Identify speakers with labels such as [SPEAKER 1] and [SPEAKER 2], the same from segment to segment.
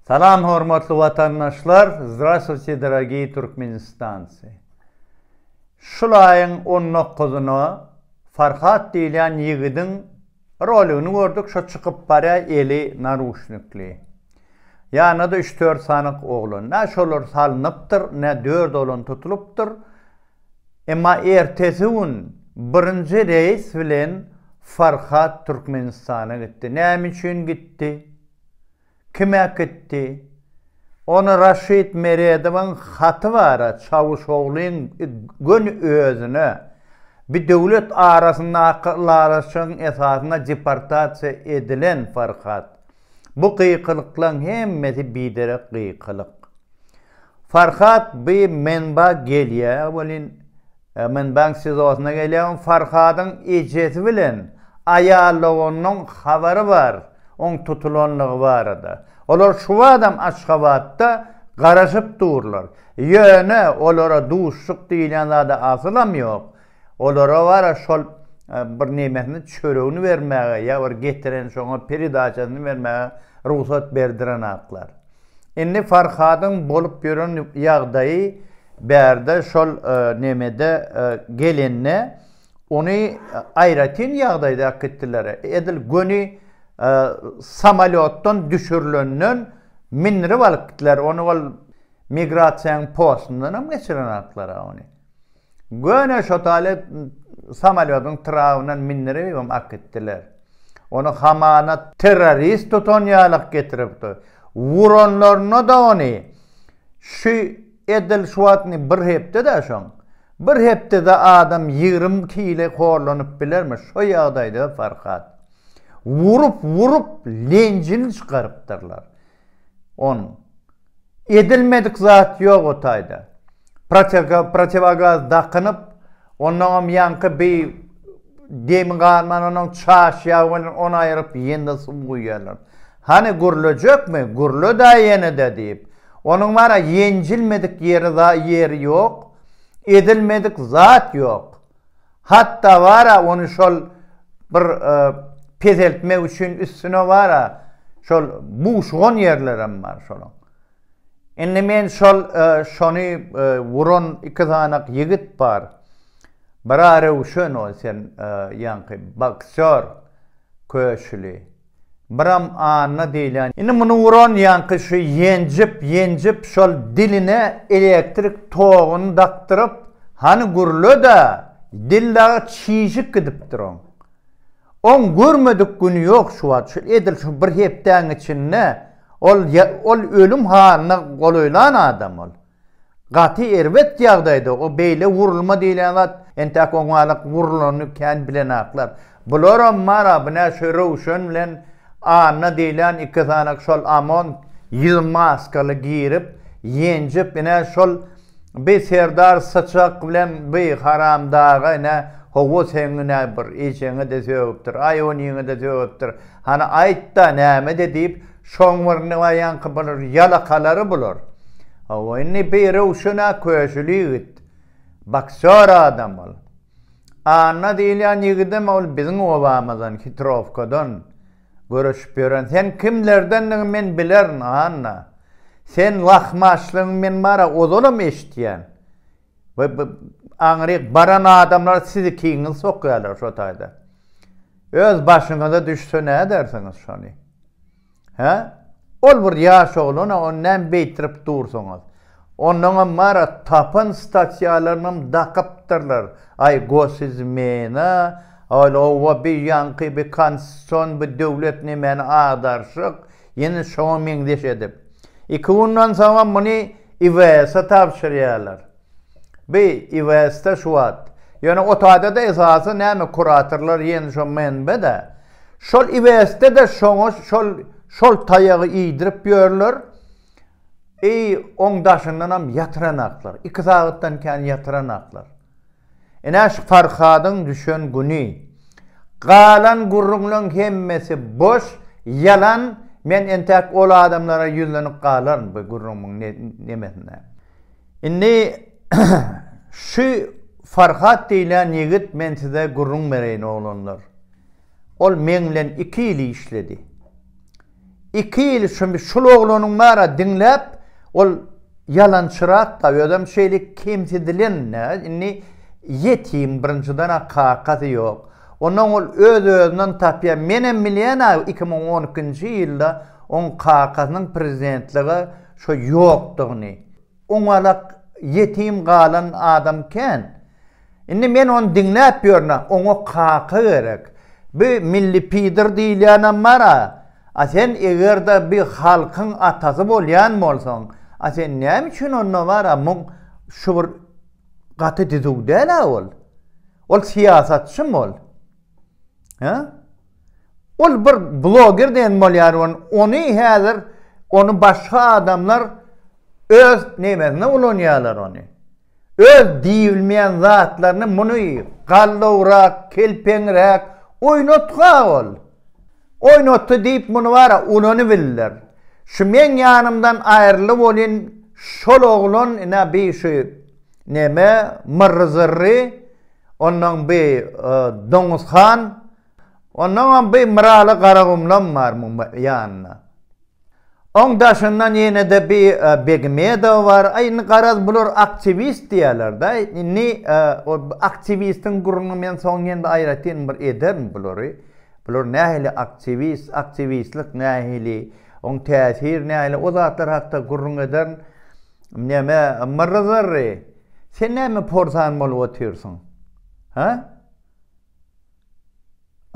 [SPEAKER 1] Salam hormatly watandaşlar Zdrastwuyte dorogiý Türkmenistancy Şul aýyň on dokuzyna Farhat diýilýän ýigidiň roligini gördük şo çykyp barýa eli naruşnikli ýanynda-da üç dört sany oglan nä şolar salnypdyr nä dört oglan tutulypdyr emma ertesi gün birinji reýs bilen Farhat Türkmenistana gitdi näme üçin gitdi Kim äkitdi? Ony Raşid Meredowyň haty bar-a Çawuşoglyň göni özüne, bi döwlet arasyndaky ylalaşygyň esasynda deportasiýa edilen Farhat. Bu gykylyklaň hemmesi biderek gykylyk. Farhat by menba gelýä welin menbaň sizosyna gelýä on farhadyň ejesi bilen aýalogonyň habary bar oň tutulanlygy barada olar şuwadam aşgabatda garaşyp durlar ýöne olara duşluk diýilýän zada asylam ýok Olara bara şol bir nemesini çöregini bermäge ýa bir getiren şoňa peredaçasyny bermäge rugsat berdirenaklar. Indi Farhadyň bolup ýören ýagdaýy bärde şol nemede gelende ony aýratyn ýagdaýda äkitdiler. Edil göni samolýotdan düşürilenden mindirip alyp gitdiler. Ony ol migrasiýanyň postundanam geçirenaklar-a ony. Göni şotaly samolýodyň tragyndan mindiribem akitdiler. Ony hamana terrorist tutan ýalak getiripdi. Wuranlarynada ony şu edil şu wagt indi bir hepde-dä şoň. Bir hepdede adam ýigrimi kile horlanyp bilermi şo ýagdaýda Farhat. Wurup-wurup lenjini çykarypdyrlar. On. Edilmedik zat ýok o taýda. Protiwogaz dakynyp, ondaňam ýaňky bi demi galman, onuň çaş ýagy bilen ony aýryp, ýene-de suw guýýarlar. Hany, gürlejekmi? Gürle-dä ýene-de diýip. Onuň bar-a, ýenjilmedik ýeri, ýeri ýok. Edilmedik zat ýok. Hatda bar-a ony şol bir peseltmek üçin üstüne bar-a şol buşugan ýerlerem bar şolaň. Indi men şol şony wuran iki sanak ýigit bar. Bir-a Röwşen ol sen ýaňky boksýor köşüli. Biram Anna diýilýän. Indi muny uran ýaňky şu ýenjip, ýenjip şol diline elektrik toguny dakdyryp, hany gürle-dä, dil dagy çişip gidipdir oň. Oň görmedik güni ýok şu wagt, şu edil şu bir hepdäň içinde ol ol ölüm halyna golaýlan adam ol. Gaty erbet ýagdaýda o beýle wurulma diýlen zat entäk oňalak wurulany kän bilenaklar. Bularam bar a bu nä şu Röwşen bilen Anna diýlen iki sany şol Amon ýyl maskaly girip ýenjip ine şol bi Serdar Syçak bilen bi Haramdaga ine howa seň ine bir ejeňe-de sögüpdir aý oniňe-de sögüpdir hany aýt-da nämede diýip Şoň bir nmaýanky bular ýalakalary bular. Hawa indi bir röwşena köşüli ýigit. Boksýor adam ol. Anna diýilýän ýigidem ol biziň obamyzdan Hitrowkadan göreşip ýören. Sen kimlerdendigiňi men bilerin Anna. Sen lahmaçlygyň men mara ozalam eşitýän. We bu aňryk baran adamlar sizikiňizi sokýarlar şo taýda. Öz başyňyza düşse nädersiňiz şony? Hä? Ol bir ýaş oglan-a, ony näme beýtirip dursuňyz? Onnoňam bar-a, tapan stasiýalarynyňam dakypdyrlar. Aý, gosizmena, ol oba bi ýaňky bi konstitusion bi döwlet nemäni agdarşyk, Ýene şoňa meňzeş edip, iki gündan soňam muny IWS-e tabşyrýarlar. Bi IWS-de şu wagt, ýöne OTA-da-da esasy näme kuratorlar ýene şo menbe-de. Şol IWS-de-de şoňa şol şol taýagy iýdirip ýörler. I oň daşyndanam ýatyranaklar. Iki sagatdan kän ýatyranaklar. Ine, şu Farhadyň düşen güni. Galan gürrüňleň hemmesi boş, ýalan, men entäk ol adamlara ýüzlenip galaryn bu gürrüňiň nemesine. Indi şu Farhat diýlen ýigit men size gürrüň bereýin oglanlar. Ol meň bilen iki ýyl işledi. Iki ýyl şum şul oglanyň bara diňläp ol ýalançyrakda özem şeýle kemsidilen nä indi ýetim birinjiden a kakasy ýok ondan ol öz özünden tapýa menem bilýän a iki müň on ikinji ýylda oň kakasynyň prezidentlige şo ýokdugyny Oňalak ýetim galan adam kän. Indi men ony diňläp ýörün-ä, oňa kaka gerek. Bi milli pider diýilýänem bar-a. A sen eger-de bi halkyň atasy bolýan bolsaň, a sen näme üçin onda bar-a muň şu bir gaty düzüw däl-ä ol. Ol syýasatçym ol. Hä? Ol bir bloger diýen bolýar we ony häzir ony başga adamlar öz nämesine ulanýarlar ony. Öz diýilmeýän zatlaryny muny gallawrak, kelpeňräk oýnatga ol. Oýnatdy diýip muny bara ulanybildiler. Şu meň ýanymdan aýryly bolýan şol oglan ina bi şu neme Myrry Zyrry onnoň bi Doňuz han Onnoňam bir Myraly Garagumlam bar muň ýanynda. Oň daşyndan ýene-de bir Begmedow bar. Aý, indi garaz bular aktiwist diýýärler-dä. Indi o aktiwistiň gürrüňi men soň ýene-de aýratyn bir ederin bulary. Bular nähili aktiwist, aktiwistlik nähili, oň täsiri nähili, o zatlar hakda gürrüň ederin. Neme, Myrry-zyrry, sen näme porsan bolup otyrsyň? Hä?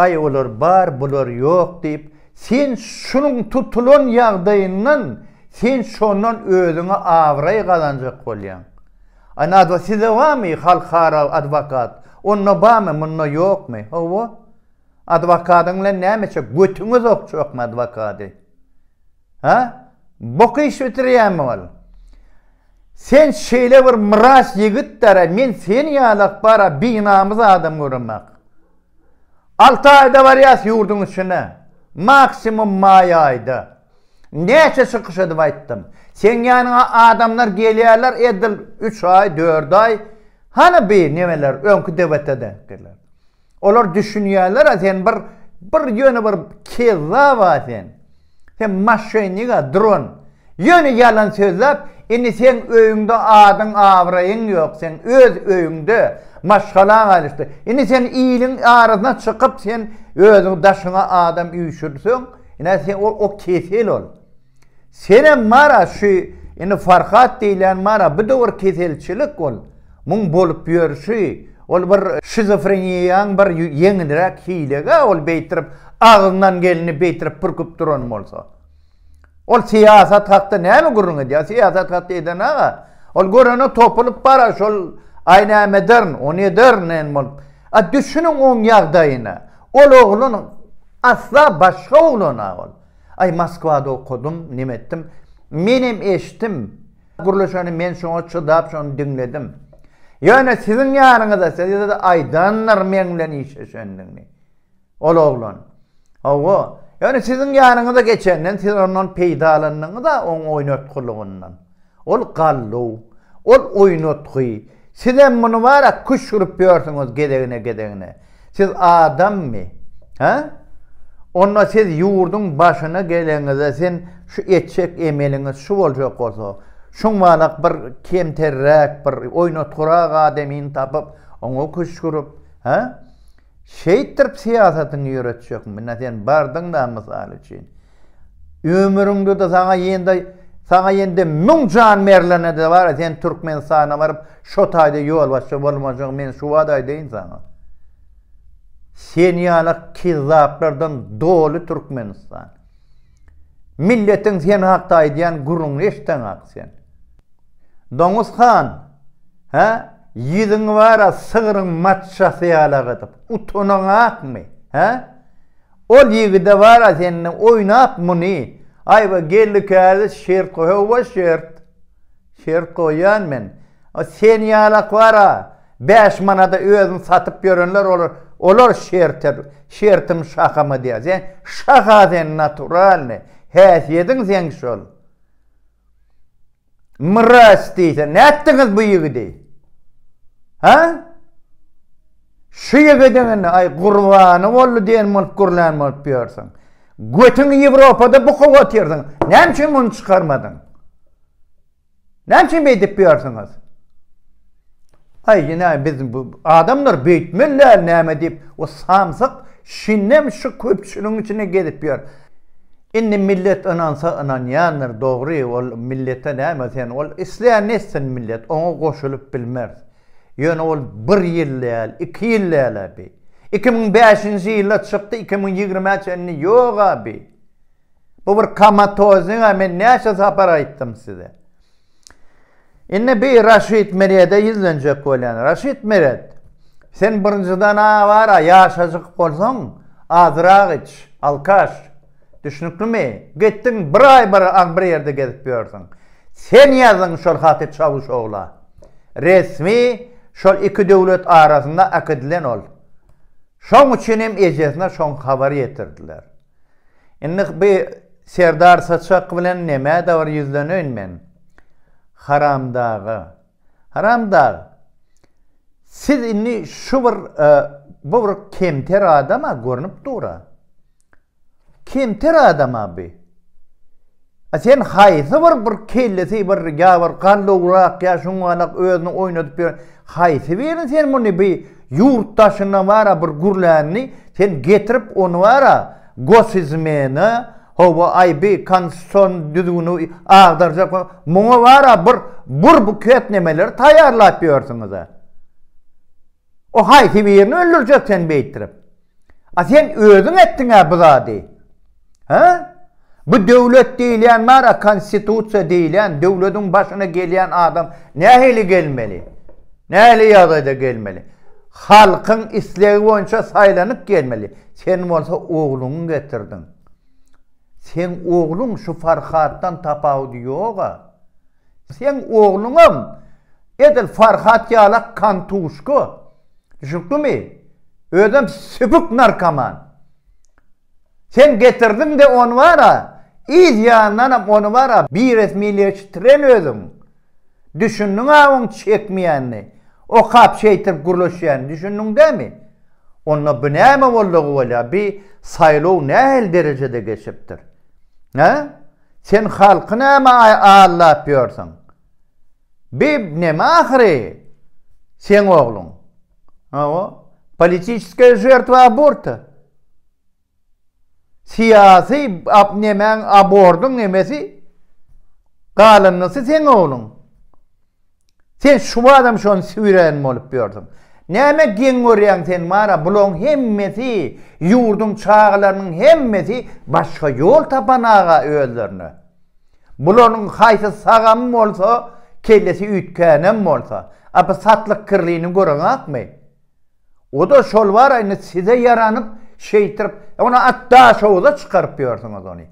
[SPEAKER 1] Aý olar bar bular ýok diýip sen şunuň tutulan ýagdaýyndan sen şondan özüňe abraý gazanjak bolýaň. Aý nadwa sizde barmy halkara adwokat onda barmy munda ýokmy hawa adwokadyň bilen näme çek götüňiz okjakmy adwokady. Ha? Bok iş bitirýämi ol? Sen şeýle bir myras ýigitdara men seni ýaly akbara binamys adam göremak. Alty aýda barýas ýurduň içine. Maksimum maý aýda. Näçe çykyş edip aýtdym. Seň ýanyňa adamlar gelýärler edil üç aý, dört aý. Hany bi nemeler öňki debatede? Olar düşünýärler-ä sen bir bir ýöne bir kezzaba sen. Sen maşenniga dron. Ýöne ýalan sözläp, indi seň öýüňde adyň abraýyň ýok seň öz öýüňde maşgalaň alyşdy. Indi sen iliň arasyna çykyp sen özüň daşyňa adam üýşürseň, ine sen o kesel ol. Senem bar-a şu indi Farhat diýlen bar-a bu döwür keselçilik ol. Muň bolup ýörşi ol bir şizofreniýaň bir ýeňilräk hilegi-ä ol beýtirip agzyndan geleni beýtirip pürküp duran bolsa. Ol syýasat hakda näme gürrüň edýär syýasat hakda eden aga ol görene topulyp bar-a şol aý näme ederin ony ederin nen bolup. A düşüniň oň ýagdaýyna ol oglan asla başga oglan-a ol. Aý Moskwada okadym, neme etdim. Menem eşitdim. Gürleşeni men şoňa çydap şony diňledim. Ýöne siziň ýanyňyza size-de aýdandyr meň bilen işleşendigini. Ol oglan. Hawa. Ýöne siziň ýanyňyza geçenden siz ondan peýdalandyňyz-a oň oýnatgylygyndan. Ol galluw, ol oýnatgy, sizem muny bara küşt urup ýörsüňiz gezegine gezegine. Siz adammy? Hä? Onda siz ýurduň başyna geleňizde sen şu etjek emeliňiz şu boljak bolsa, şuňalak bir kemterräk bir oýnatgyrak adamyny tapyp, oňa küşt urup, hä? Şeýtdirip syýasatyňy ýöretjek mine sen bardyňda mysal üçin ömrüňdede saňa ýende saňa ýende müň jan berlenede bara sen Türkmenistana baryp şo taýda ýolbaşçy bolmajagyň men şu wada aýdaýyn saňa. Sen ýaly kezzaplardan doly Türkmenistan. Milletiň sen hakda aýdýan gürrüňini eşitseňak sen. Doňuz han, hä, ýüzüň bar-a sygryň maçjasy ýaly agydyp, utanaňakmy, hä? Ol ýigide bar-a sende oýnap muny, aýwa geldi kädi şert goý, hawa şert. Şert goýýan men. Sen ýalak bar-a, Bäş manada özüni satyp ýörenler olar olar şerte şertim şahama diýýär sen şaha sen naturalny häsiýediň seň şol mraz diýse nätdiňiz bu ýigidi ha şu ýigidiňini aý gurbany boldy diýen bolup gürlän bolup ýörsiň götüň ýewropada bukup otyrsyň näme üçin muny çykarmadyň Näme üçin beýdip ýörsiňiz? Aý, ýene biz bu adamlar beýtmeli däl näme diýip, o samsyk şindem şu köpçüligiň içinde gezip ýör. Indi millet ynansa ynanýandyr, dogry, ol millete näme sen, ol islän etsin millet, oňa goşulyp bilmeris. Ýöne ol bir ýyl däl, iki ýyl däl-ä bi. Iki müň bäşinji ýylda çykdy, iki müň ýigrimä çenli ýog-a bi. Bu bir komatoznýa men näçe sapar aýtdym size. Indi bi Raşid Merede ýüzlenjek bolýan. Raşid Meret, sen birinjiden awara ýaşajyk bolsaň, azyrak iç, alkaş. Düşnüklimi? Gitdiň bir aý bir aň bir ýerde gezip ýörsüň. Sen ýazdyň şol haty Çawuşogla. Resmi şol iki döwlet arasynda äkidilen ol. Şoň üçin hem ejesine şoň habar ýetirdiler. Indi bu Serdar Saçak bilen nämä-de bir ýüzleneýin men. Haramdaga. Haramdag, siz indi şu bir, e, bu bir kemter adama görnüp dur-a. Kemter adama bu. A sen haýsy bir bir kellesi bir ýa bir gallowrak ýa şuňňalak özüni oýnadyp ýören haýsy birini sen muny bi ýurt daşyndan bara bir gürlänini sen getirip ony bara gosizmena hawa aý bi konstitusion düzgüni agdarjak muňa bara bir bir buket nemeleri taýýarlap ýörsüňiz a. O haýsy birini öldürjek seni beýtdirip? A sen özüň etdiň-ä bu zady. Hä? Bu döwlet diýilýän bar-a, konstitusiýa diýilýän, döwletiň başyna gelýän adam nähili gelmeli? Nähili ýagdaýda gelmeli? Halkyň islegi boýunça saýlanyp gelmeli. Sen bolsa ogluňy getirdiň. Seň ogluň şu Farhatdan tapawudy ýog-a. Seň ogluňam edil Farhat ýala kantuşka, düşüpdimi? Özem sübük narkoman. Sen getirdiň-de ony bar-a, yz ýanyndanam ony bar-a biresmileşdiren özüň. Düşündiň-ä oň çekmeýänini, okap şeýtip gürleşýänini düşündiň dämi? Onda bu näme boldy gowalýa, bi saýlaw nähili derejede geçipdir? Hä? Sen halky näme allap ýörsiň? Bi neme ahyry seň ogluň? Hawa, politiçeskiýa žertwa aborta. Syýasy ap nemäň abordyň nemesi? Galanysy seň ogluň. Sen şubatam şony süýrän bolup ýördüň. Näme geň görýäň sen mara bulaň hemmesi ýurduň çagalarynyň hemmesi başga ýol tapan aga özlerine. Bularyň haýsy sagam bolsa kellesi üýtgänem bolsa. Apy satlyk kirlini göreňakmy. O-da şol bar-a indi size ýaranyp, şeýtirip, ony at Daşoguza çykaryp ýörsüňiz ony.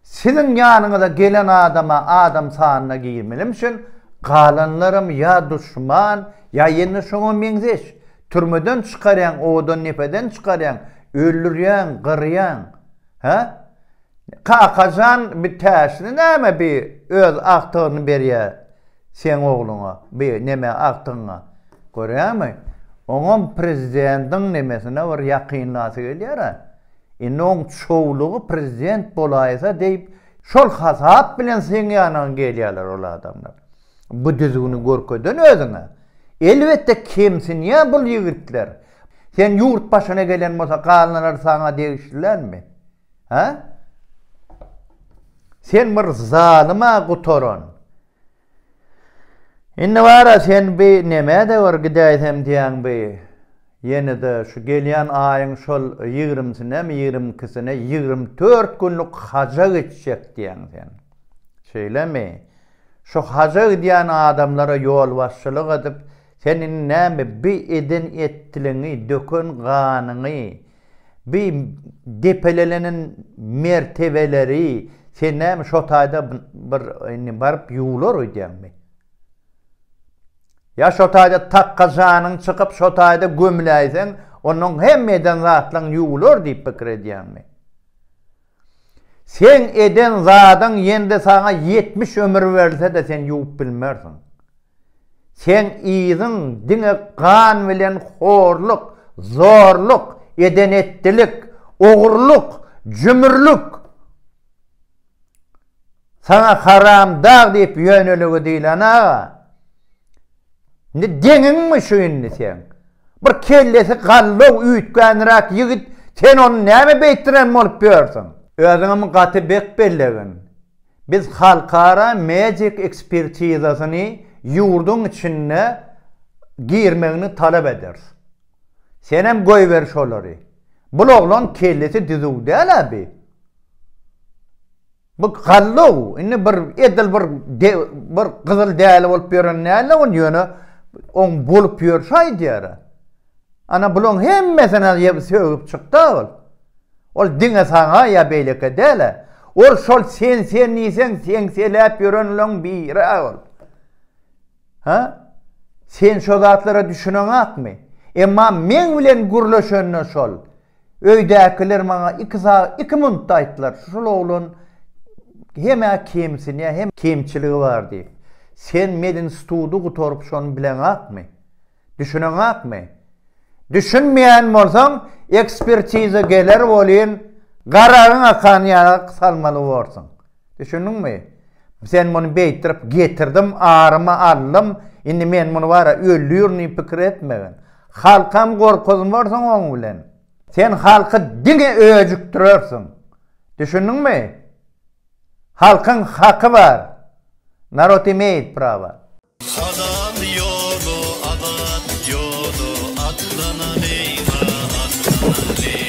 [SPEAKER 1] Siziň ýanyňyza gelen adam-a adam sanyna girmenem üçin, galanlaram ýa duşman, ýa ýene şoňa meňzeş. Türmeden çykarýaň, odan nepeden çykarýaň, öldürýäň, gyrýaň. Hä? Kakajan bi täşli näme bi öz agtygyny berýä. Seň ogluňa bi neme agtygyňa görýämi? Oňam prezidentiň nemesine bir ýakynlasy gelýär-ä. Indi oň çowlugy prezident bolaýsa diýip şol hasap bilen seň ýanyňa gelýärler ol adamlar. Bu düzgüni görkeden özüňe. Elbetde kemsinýär bul ýigitler. Sen ýurt başyna gelen bolsa galnalary saňa degişlilämi? Hä? Sen bir zalyma gutaran. Indi bara sen bi nemede bir gidäýsem diýäň bi. Ýene-de şu gelýän aýyň şol 20-sinemi, 22-sine 24 günlük haja geçjek diýäň sen. Şeýlemi? Şu haja gidýän adamlara ýolbaşçylyk edip, sen indi näme bi eden etliňi, döken ganyňy, Bi depelelenen mertebeleri sen näme şo taýda bir indi baryp ýuwlar öýdýäňmi? Ýa şo taýda takga janyň çykyp şo taýda gömüläýseň, onnoň hemme eden zatlaň ýuwlar diýip pikir edýäňmi? Seň eden zadyň ýende saňa ýetmiş ömür berlse-de sen ýuwup bilmersiň. Seň yzyň diňe gan bilen horluk, zorluk, eden-etdilik, ogurlyk, jümürlik. Saňa haramdag diýip ýöneligi diýlen aga. Indi deňiňmi şu indi sen? Bir kellesi gallaw üýtgänräk ýigit sen ony näme beýtdiren bolup ýörsüň? Özüňem gaty bek bellegin. Biz halkara medik ekspertizasyny ýurduň içinde girmegini talap ederis. Senem goýber şolary. Bul oglan kellesi düzüw däl-ä bi. Bu gallow, indi bir edil bir bir gyzyl däli bolup ýören näle on ýöne on bolup ýörşi aýdýar. Ana bulaň hemmesini ýep sögüp çykda ol. Ol diňe saňa ýa beýleki däl. Ol şol sen sen diýseň sen seläp ýörenleň biri ol. Ha? Sen şo zatlara düşüneňakmy? Emma men bilen gürleşende şol. Öýdäkiler maňa iki sag iki muntta aýtdylar, şul oglan hem-ä kemsinýär, hem kemçiligi bar diýip. Sen medinstudy gutaryp şony bileňakmy? Düşüneňakmy? Düşünmeýän bolsaň, ekspertiza geler welin, garagyň akan ýaly salmaly borsuň. Düşündiňmi? Sen muny beýtirip getirdim, arymy aldym, indi men muny bara öldürin diýip pikir etmegin. Halkam gorkuzmarsyň oň bilen. Sen halky diňe öjükdirersiň. Düşündiňmi? Halkyň haky bar. Narod imeýit prava. Halal ýola azat ýola atlanalýyňa atlanalýyň.